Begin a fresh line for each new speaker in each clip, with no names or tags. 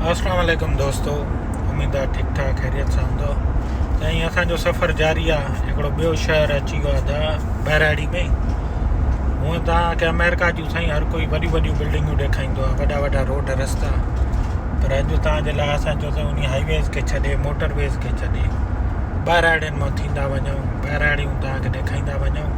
اسلام عليڪم دوستو اميد آ ٺيڪ ٺاڪ خيريت سان هوندو سائين اسان جو سفر جاري آ هڪڙو ٻيو شهر اچي ويو آ دا بهراڙي ۾ هون تا کي امريڪا جو سائين هر ڪوئي وڏي وڏي بلڊنگو ڏيکائيندو آ وڏا وڏا روڊ رستا پر اڄ تا جي لا اسان جو سائين انهي هاء ويز کي ڇڏي موٽر ويز کي ڇڏي بهراڙين مان ٿيندا وڃون بهراڙيون تا کي ڏيکائيندا وڃون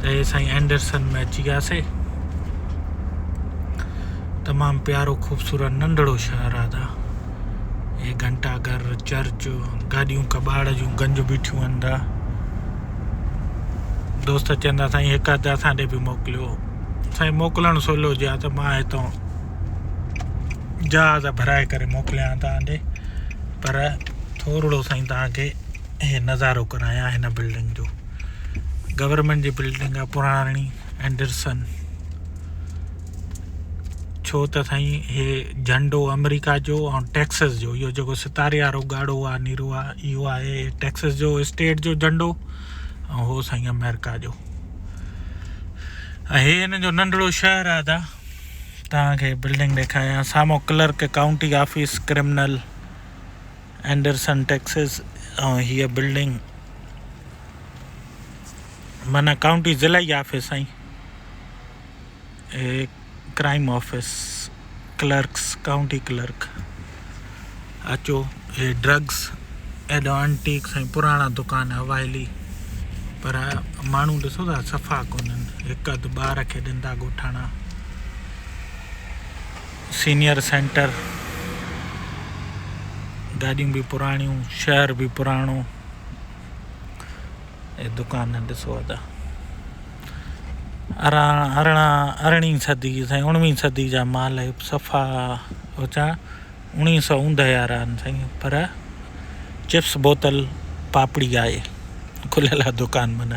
ته هي سائين اينڊرسن ۾ اچي وياسي تمام پيارو خوبصورت ننڍڙو شهر آدا هي گھنٽا گھر چرچ گاڏيون کٻاڙ جون گنج بيٺيون اندا دوست چندا سائين هڪ ادا اسان ڏي به موڪليو سائين موڪلڻ سولو جي ته ماهه هتو جهاز ڀرائي ڪري موڪليان تان ڏي پر ٿورڙو سائين تان کي ۽ نظارو ڪرايان هن بلڊنگ جو گورنمينٽ جي بلڊنگ آ پراڻي اينڊرسن ڇو ته سائين هي جهنڊو آمريڪا جو ۽ ٽيڪسس جو اهو جيڪو ستاري وارو ڳاڙهو آ نيرو آ اهو آهي ٽيڪسس جو اسٽيٽ جو جهنڊو ۽ هو سائين آمريڪا جو هي هن جو ننڍڙو شهر آ دا تان کي بلڊنگ ڏيکاريان سامو clerk county office criminal Anderson Texas ۽ هيء بلڊنگ معنيٰ ڪائونٽي ضلعي office ۽ crime office clerks county clerk اچو هي ڊرگس ايڏو انٽيڪس ۽ پراڻا دڪان اوائلي پر ماڻهو ڏسو ٿا صفا ڪونهن هڪ اڌ ٻار کي ڏندا ڳوٺاڻا سينيئر سينٽر گاڏيون به پراڻيون شهر به پراڻو اي دڪان ڏسو ادا اران ارڙا ارڙي صدي سائين اڻوي صدي جا مال صفا اچا اني سو اوندھ ياران سائين پر چپس بوتل پاپڙي آئي کليل دڪان من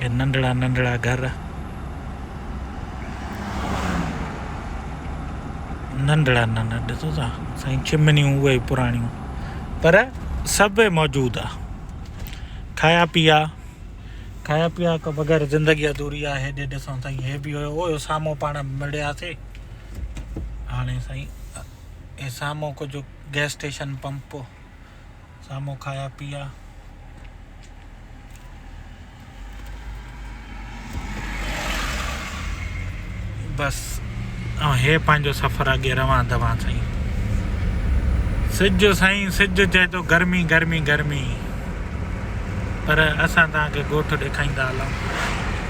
اهي ننڍڙا ننڍڙا گهر ننڍڙا ننڍڙا ڏسو ٿا سائين چمنيون اهي پراڻيون پر سڀ موجود آ کايا پيا کايا پيا کان بغير زندگي ادوري آ هيڏي ڏسو ٿا هي به هيو هو سامو پاڻ مڙياسي هاڻي سائين هي سامو ڪجهه گيس اسٽيشن پمپ سامهون کايا پيا. بس ۽ هي پنهنجو سفر اڳي روان دوان سائين سج سائين سج چئي ٿو گرمي گرمي گرمي پر اسان تان کي ڳوٺ ڏيکائيندا هلون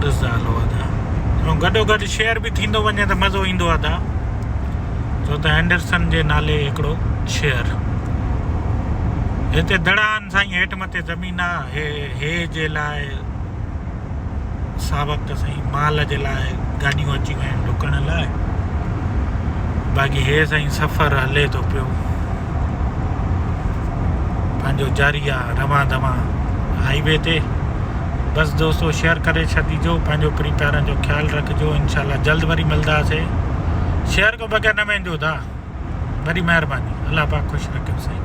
ڏسندو آهي ادا ۽ گڏو گڏ شيئر به ٿيندو وڃي ته مزو ايندو آهي ادا ڇو ته هينڊرسن جي نالي هڪڙو شيئر هتي دڙا آهن سائين هيٺ مٿي زمين آهي هي جي لاء سا وقت سائين مال جي لاء گاڏيون اچي ويا آهن ڊڪڻ لاء باقي هي سائين سفر هلي ٿو پيو پنهنجو جاري آ روان دوان هائي وي تي بس دوستو شيئر ڪري ڇڏيجو پنهنجو پري پيارن جو خيال رکجو انشاء الله جلد وري ملداسي شيئر کو بغير نه ويندو دا وڏي مهرباني الله پاڪ خوش رکيو سائين